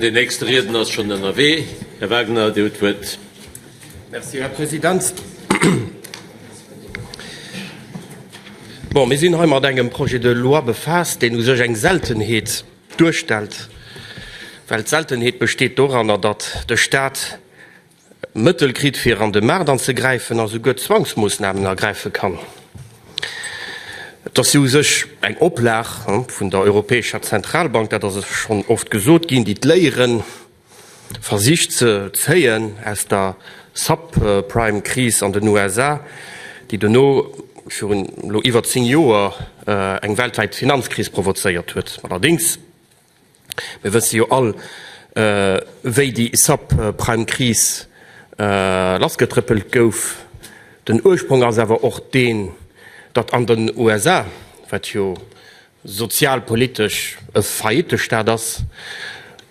Den nächste Riedner ass schonn ënnerwee. Här Wagner, Dir hutt d'Wuert. Merci, Här President. Bon, mir sinn hei mat engem Projet de loi befaasst, deen u sech eng Seltenheet duerstellt, well d'Seltenheet besteet doranner, datt de Stat, Mëttel kritt fir an de Maart anzegräifen a souguer Zwangsmoossnamen ergräife kann. Et ass jo u sech eng Oplag vun der Europäescher Zentralbank, dat ass schonn oft gesot ginn, déi d'Léiere versicht ze zéien aus der Subprime Kris an den USA, déi dono virun elo iwwer 10 Joer eng weltwäit Finanzkris provozéiert huet. Allerdéngs. Mir wësse jo all, wéi déi Subprime-Kris lassgetrëppelt gouf. Den Ursprong ass awer och deen, datt an den USA, wat jo sozialpolitesch e Faillittestaat ass,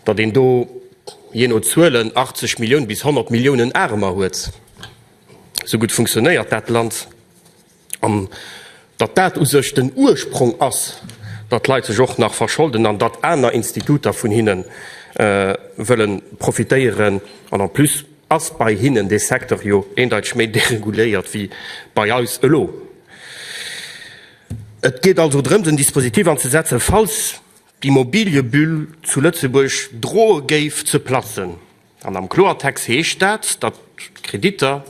datt een do, jee no Zuelen, 80 Millioun bis 100 Milliounen Aarmer huet. Esou gutt funktionéiert dat Land. An datt dat u sech den Ursprong ass, datt Leit sech och nach verscholden an datt aner Instituter vun hinne wëlle profitéieren. An en plus ass bei hinnen dee Secteur jo eendeiteg méi dereguléiert wéi bei eis elo. Et geet also drëms, en Dispositif anzesetzen, falls d'Immobiliëbulle zu Lëtzebuerg droe géif ze platzen. An am Kloertext heescht dat, datt d'Kreditter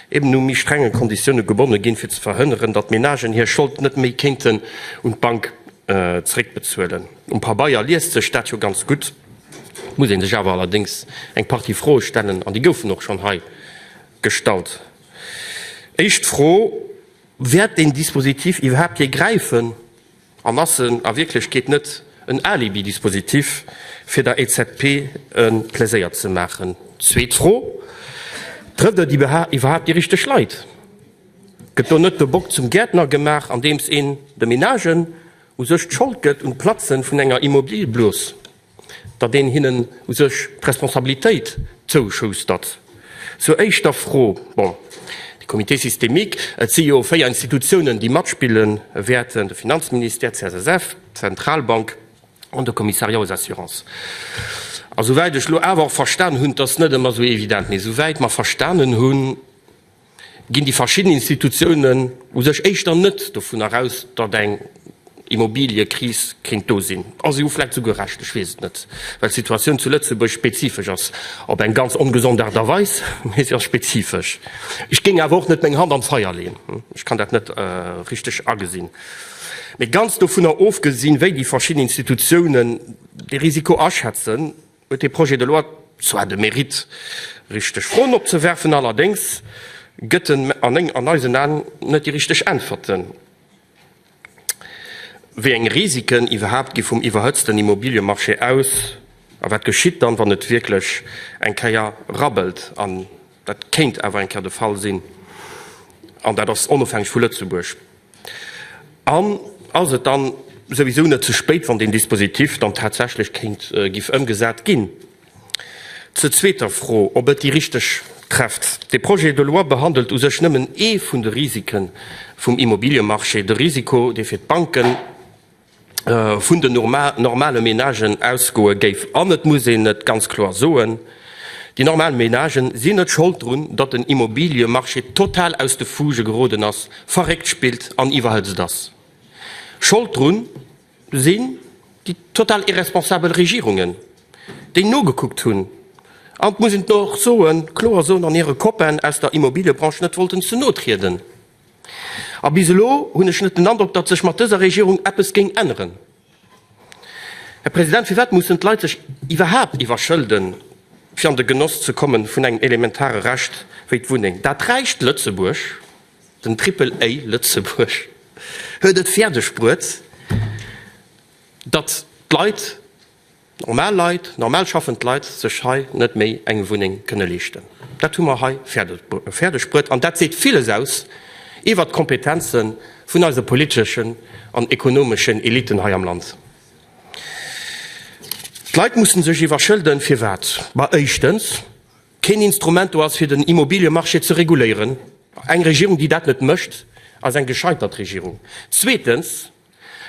eben u méi strenge Konditioune gebonne ginn, fir ze verhënneren, datt d'Menagen hir Schold net méi kéinten un d'Bank zeréckbezuelen. Um Pabeier liest sech dat jo ganz gutt, et muss ee sech awer allerdéngs eng Partie Froe stellen, an déi goufen och schonn hei gestallt. Éischt Fro, Wäert deen Dispositif iwwerhaapt jee gräifen? An ass en a Wierklechkeet net en Alibi-Dispositif, fir der EZB e Pleséier ze maachen? Zweet Fro, Trëfft et iwwerhaapt déi richteg Leit? Gëtt do net de Bock zum Gäertner gemaach, andeems een de Menagen u sech d'Schold gëtt un d'Platzen vun enger Immobiliëblos? datt een hinnen u sech d'Responsabilitéit zouschustert. Zur éischter Fro, bon, de Comité systémique, et si jo véier Institutiounen, déi matspille wäerten, de Finanzministère, d'CSSF, d'Zentralbank an de Commissariat aux assurances. A souwäit ech elo awer och verstan hunn, 't ass net ëmmer esou evident, mee souwäit mer verstanen hunn, ginn déi verschidden Institutiounen u sech éischter net dovunner aus, datt eng Immobiliëkris kéint do sinn. A se hu vläicht esouguer Recht, ech weess et net, well d'Situatioun zu Lëtzebuerg spezifesch ass. Op eng ganz ongesond Aart a Weis, mee se ass spezifesch. Ech géing awer och net meng Hand an d'Feier leeën, ech kann dat net richteg agesinn. Mee ganz dovunner ofgesinn, wéi déi verschidden Institutiounen de Risiko aschätzen, huet dee Projet de loi zwar de Mérite, richteg Froen opzewerfen, allerdéngs gëtt en an eisen Aen net déi richteg Äntwerten, wéi eng Risiken iwwerhaapt gi vum iwwerhëtzten Immobiliemarché aus a wat geschitt dann, wann et wierklech eng Kéier rabbelt, an dat kéint awer eng Kéier de Fall sinn, an dat ass onofhängeg vu Lëtzebuerg. An ass et dann souwisou net ze spéit, wann deen Dispositif dann tatsächlech kéint giff ëmgesat ginn? Zur zweeter Fro, ob et déi richteg trefft. De Projet de loi behandelt u sech nëmmen ee vun de Risike vum Immobiliemarché, de Risiko, dee fir d'Banken, vun den normale Menagen ausgoe géif. An et muss een et ganz kloer soen, Déi normal Menagen sinn net Schold drun, datt den Immobiliemarché total aus de Fuge geroden ass, verréckt spillt an iwwerhëtzt ass. Schold drun sinn déi total irresponsabel Regierungen, déi nogekuckt hunn an, et muss een och kloer soen, an hire Copainen aus der Immobiliebranche net wollten ze no trieden. A bis elo hunn ech net den Androck, datt sech mat dëser Regierung eppes géing änneren. Här President, firwat mussen d'Leit sech iwwerhaapt iwwerschëlden, fir an de Genoss ze kommen vun engem elementare Recht wéi d'Wunneng? Dat räicht Lëtzebuerg, den Triple-A Lëtzebuerg huet et fäerdeg bruet, datt d'Leit, normal Leit, normal schaffend Leit sech hei net méi eng Wunneng kënne leeschten. Dat hu mer hei fäerdeg bruet an dat seet villes aus iwwert d'Kompetenze vun eise politeschen an ekonomeschen Eliten hei am Land. D'Leit mussen sech iwwerschëlden. Firwat? Well éischtens keen Instrument do ass fir den Immobiliemarché ze reguléieren. Eng Regierung, déi dat net mécht, ass eng gescheitert Regierung. Zweetens.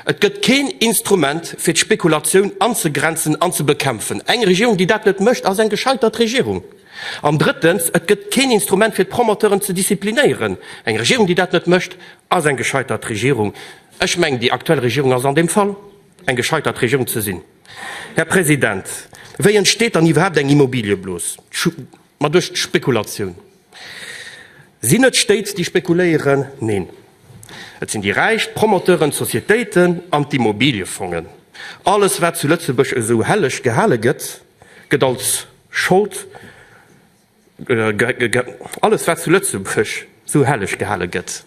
Et gëtt keen Instrument, fir d'Spekulatioun anzegrenzen an ze bekämpfen. Eng Regierung, déi dat net mécht, ass eng gescheitert Regierung. An drëttens, et gëtt keen Instrument, fir d'Promoteuren ze disziplinéieren. Eng Regierung, déi dat net mécht, ass eng gescheitert Regierung. Ech mengen, déi aktuell Regierung ass an deem Fall eng gescheitert Regierung ze sinn. Här President, wéi entsteet dann iwwerhaapt eng Immobiliëblos? Ma duerch d'Spekulatioun. Sinn et d'Stéit, déi spekuléieren? Neen, et sinn déi Räich, d'Promoteuren, d'Sociétéiten an d'Immobiliefongen. Alles, wat zu Lëtzebuerg esou helleg gehale gëtt, gëtt als Schold Alles, wat zu Lëtzebuerg esou helleg gehale gëtt,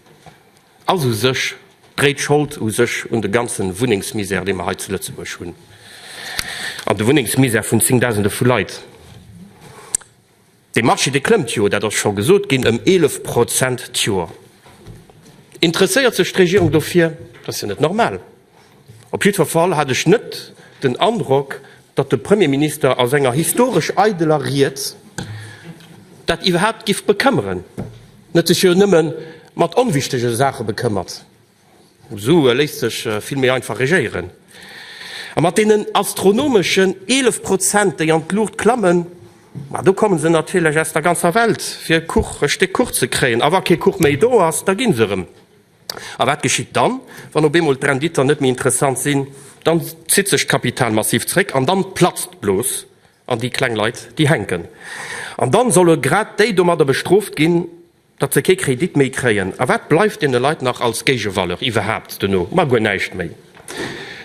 ass u sech dréit Schold u sech un de ganze Wunnengsmisär, dee mer hei zu Lëtzebuerg hunn, an de Wunnengsmisär vun zéngdausende vu Leit. De Marché, dee klëmmt jo, dat ass scho gesot ginn, ëm 11 Prozent d'Joer. Interesséiert sech d'Regierung dofir? Dat ass jo net normal. Op jiddwer Fall hat ech net den Androck, datt de Premierminister a senger historesch eideler Ried dat iwwerhaapt giff bekëmmeren, en huet sech jo nëmme mat onwichtege Saache bekëmmert. Esou léisst sech vill méi einfach regéieren. A mat deenen astronomeschen 11 Prozent, déi an d'Luucht klammen, ma do komme se natierlech aus der ganzer Welt, fir e Kuch, e Stéck Kuch ze kréien. A wa kee Kuch méi do ass, da gi se erëm. A wat geschitt dann, wann op eemol d'Renditen net méi interessant sinn? Dann zitt sech d'Kapital massiv zréck an dann platzt d'Blos an déi kleng Leit, déi hänken. An dann solle grad déi domadder bestrooft ginn, datt se kee Kredit méi kréien, a wat bleift deene Leit nach als Géigevaleur iwwerhaapt dono? Ma guer näischt méi.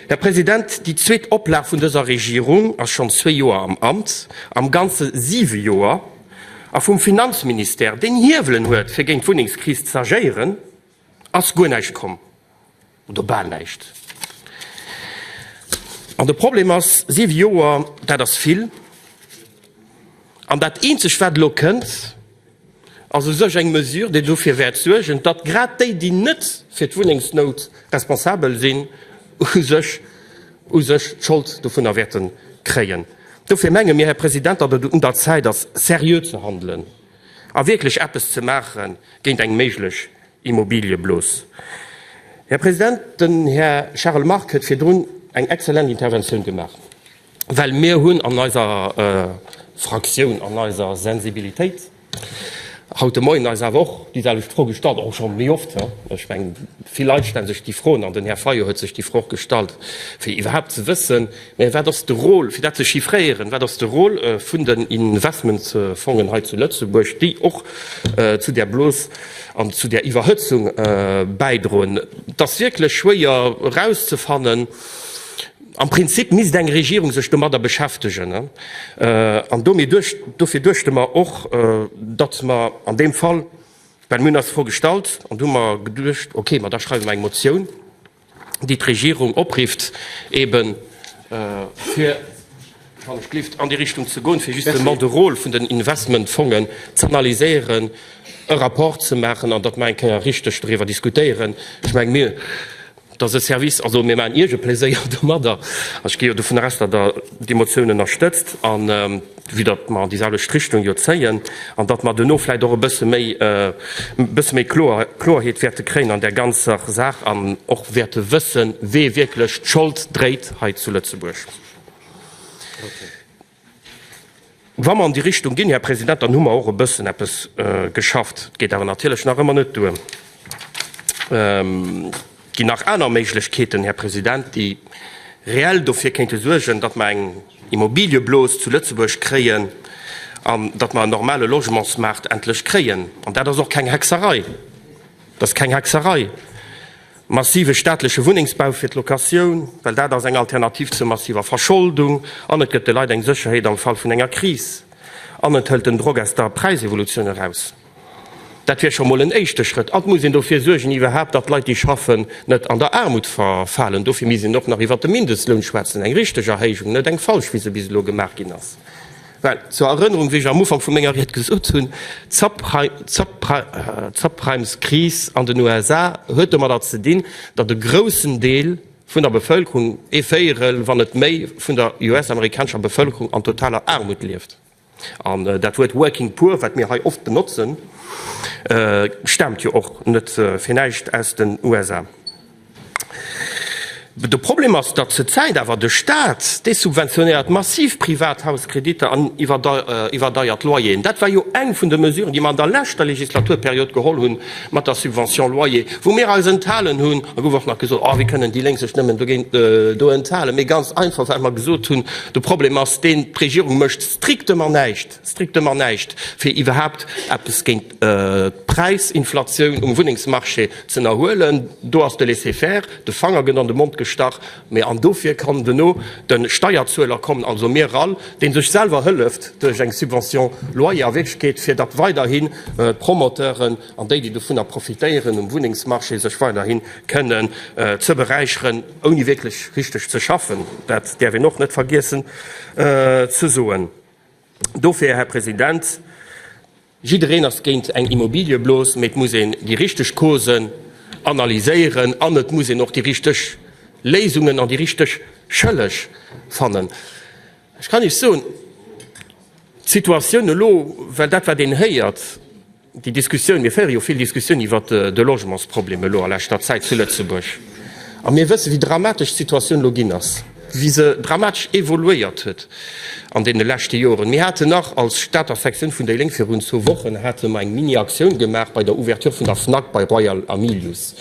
Här President, déi zweet Oplag vun dëser Regierung ass schonn zwee Joer am Amt, am Ganze siwe Joer, a vum Finanzministère, deen Hiewelen huet fir géint d'Wunnengskris z'agéieren, ass guer näischt komm. Oder bal näischt. An de Problem ass, siwe Joer, dat ass vill. An dat Eenzegt, wat elo kënnt, ass u sech eng Mesure, déi dofir wäert suergen, datt grad déi, déi net fir d'Wunnengsnout responsabel sinn, u sech u sech d'Schold dovunner wäerte kréien. Dofir menge mir, Här President, datt et un der Zäit ass, seriö ze handelen a wierklech eppes ze maache géint eng méiglech Immobiliëblus. Här President, den Här Charles Margue huet virdrun eng exzellent Interventioun gemaach, well mir hunn an eiser Fraktioun, an eiser Sensibilitéit haut de Moien eis awer och déiselwecht Fro gestallt, och schonn méi oft. Ech mengen, vill Leit stelle sech déi Froen, an den Här Fayot huet sech déi Fro och gestallt, fir iwwerhaapt ze wëssen, Mä wat ass de Rôle, fir dat ze chiffréieren, wat ass de Rôle vun den Investmentsfongen hei zu Lëtzebuerg, déi och zu där Blos an zu där Iwwerhëtzung bäidroen? Et ass wierklech schwéier erauszefannen. Am Prinzip misst eng Regierung sech domadder beschäftegen. An dofir duechte mer och, datt mer an deem Fall, well mir hunn eis d'Fro gestallt an du mer geduecht, okay, ma da schreiwe mer eng Motioun, déi d'Regierung oprifft, eben fir, wann ech gelift, an déi Richtung ze goen, fir justement de Rôle vun den Investmentfongen z'analyséieren, e Rapport ze maachen an datt mer eng Kéier richteg doriwwer diskutéieren. Ech menge mir, dass e Service, also mir maachen Iech e Pleséier domadder, an ech gi jo dovun aus, datt Der déi Motioun ënnerstëtzt. vue datt mer an déi selwecht Richtung jo zéien, an datt mer duerno vläicht och e bësse méi, e bësse méi Kloerheet wäerte kréien an där ganzer Saach an och wäerte wëssen, wee wierklech d'Schold dréit hei zu Lëtzebuerg. Wa mer an déi Richtung ginn, Här President, dann hu mer och e bëssen eppes geschafft. Et geet awer natierlech nach ëmmer net duer. Et ginn nach aner Méiglechkeeten, Här President, déi reell dofir kéinte suergen, datt mer eng Immobiliëblos zu Lëtzebuerg kréien an datt mer en normale Logementsmaart endlech kréien. An dat ass och keng Hexerei, dat ass keng Hexerei, massive staatleche Wunnengsbau fir d'Locatioun, well dat ass eng Alternativ zur massiver Verscholdung an et gëtt de Leit eng Sécherheet am Fall vun enger Kris an et hëlt den Drock aus der Präisevolutioun eraus. Dat wier scho mol en éischte Schrëtt. An et muss een dofir suergen iwwerhaapt, datt d'Leit déi schaffen, net an der Aarmut verfalen. Dofir misst een och nach iwwert de Mindestloun schwätzen, eng richteg Erhéijung, net eng falsch, wéi se bis elo gemaach ginn ass. Well, zur Erënnerung, wéi ech am Ufank vu menger Ried gesot hunn, d'Subprimes-Kris an den USA huet domadder ze dinn, datt e groussen Deel vun der Bevëlkerung, ee Véierel, wann net méi, vun der US-amerikanescher Bevëlkerung an totaler Aarmut lieft. An dat Wuert working poor, wat mir hei oft benotzen, staamt jo och net fir näischt aus den USA. De Problem ass, datt zur Zäit awer de Staat desubventionéiert massiv Privathauskrediter an iwwerdeiert Loyeren. Dat war jo eng vun de Mesuren, déi mer an der leschter Legislaturperiod geholl hunn, mat der Subvention loyer, wou mir eis enthalen hunn, da gouf och nach gesot, Oh, wéi kënnen déi Lénk sech nëmmen dogéint do enthalen? Mee ganz einfach, well mer gesot hunn, de Problem ass deen, D'Regierung mécht strictement näischt, strictement näischt, fir iwwerhaupt eppes géint d'Präisinflatioun um Wunnengsmarché z'ënnerhuelen. Do ass de Laisser-faire, de Fanger gëtt an de Mond gestach. Mee an dofir kann duerno de Steierzueler kommen, also mir all, dee sech selwer hëlleft duerch eng Subvention loyer a Wierklechkeet, fir datt weiderhi d'Promoteuren an déi, déi dovunner profitéieren um Wunnengsmarché, sech weiderhi kënnen ze beräicheren, ouni wierklech richteg ze schaffen. Dat däerf een och net vergiessen ze soen. Dofir, Här President, jiddereen ass géint eng Immobiliëblos, mä et muss een déi richteg Causen analyséieren an et muss een och déi richteg Léisungen an déi richteg Schëlleg fannen. Ech kann Iech soen, d'Situatioun elo, well dat wat een héiert, Déi Diskussioun, mir féiere jo vill Diskussioun iwwer de Logementsproblem elo a leschter Zäit zu Lëtzebuerg. A mir wësse wéi dramatesch d'Situatioun elo ginn ass, wéi se dramatesch evoluéiert huet an deene leschte Joren. Mir haten nach als Stater Sektioun vun déi Lénk virun zwou Wochen hate mer eng Mini-Aktioun gemaach bei der Ouverture vun der Fnac bei Royal a Milius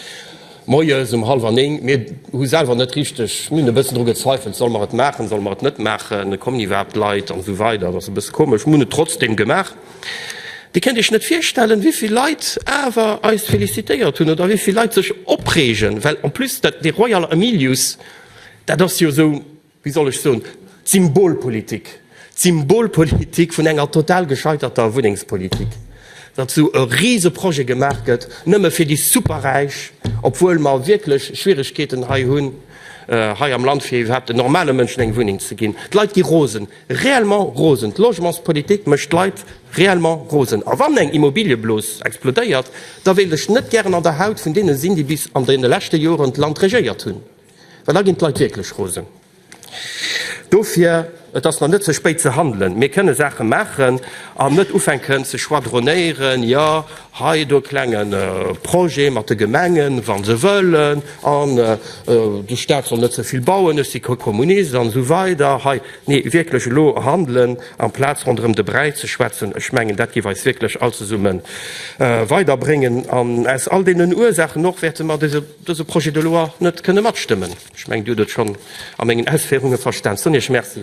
moies um hallwer néng. Mir hu selwer net richteg, mir hunn e bëssen dru gezweifelt, solle mer et maachen, solle mer et net maachen, kommen iwwerhaapt Leit an esou weider, et ass e bësse komesch, mir hunn et trotzdeem gemaach. Dir kënnt Iech net virstellen, wéi vill Leit awer eis félicitéiert hunn oder wéi vill Leit sech opreegen, well en plus dat, dee Royal Emilius, dat ass jo esou, wéi soll ech soen, d'Symbolpolitik, d'Symbolpolitik vun enger total gescheiterter Wunnengspolitik, datt esou e Riseprojet gemaach gëtt nëmme fir déi Superräich, obwuel mer wierklech Schwierigkeeten hei hunn, hei am Land, fir iwwerhaapt en normale Mënschen eng Wunneng ze ginn. D'Leit gi rosen. Réellement rosen! D'Logementspolitik mécht d'Leit réellement rosen. A wann eng Immobiliëblos explodéiert, da wéilt ech net gären an der Haut vun deene sinn, déi bis an deene leschte Joren d'Land regéiert hunn, well da ginn d'Leit wierklech rosen. Dofir, et ass nach net ze spéit ze handelen. Mir kënne Saache maachen an net ufänken ze schwadronéieren, Jo, Hei do e klenge Projet mat de Gemengen, wa se wëllen, an de Staat soll net ze vill bauen, ech si kee Kommunist an esou weider hei. Nee, wierklech elo handelen, amplaz ronderëm de Bräi ze schwätzen. Ech mengen, dat géif eis wierklech all zesumme weiderbréngen. An aus all deenen Ursaachen och wäerte mer dëse Projet de loi net kënne matstëmmen. Ech mengen, Dir hutt et schonn a mengen Ausféierunge verstanen. Sonja, merci.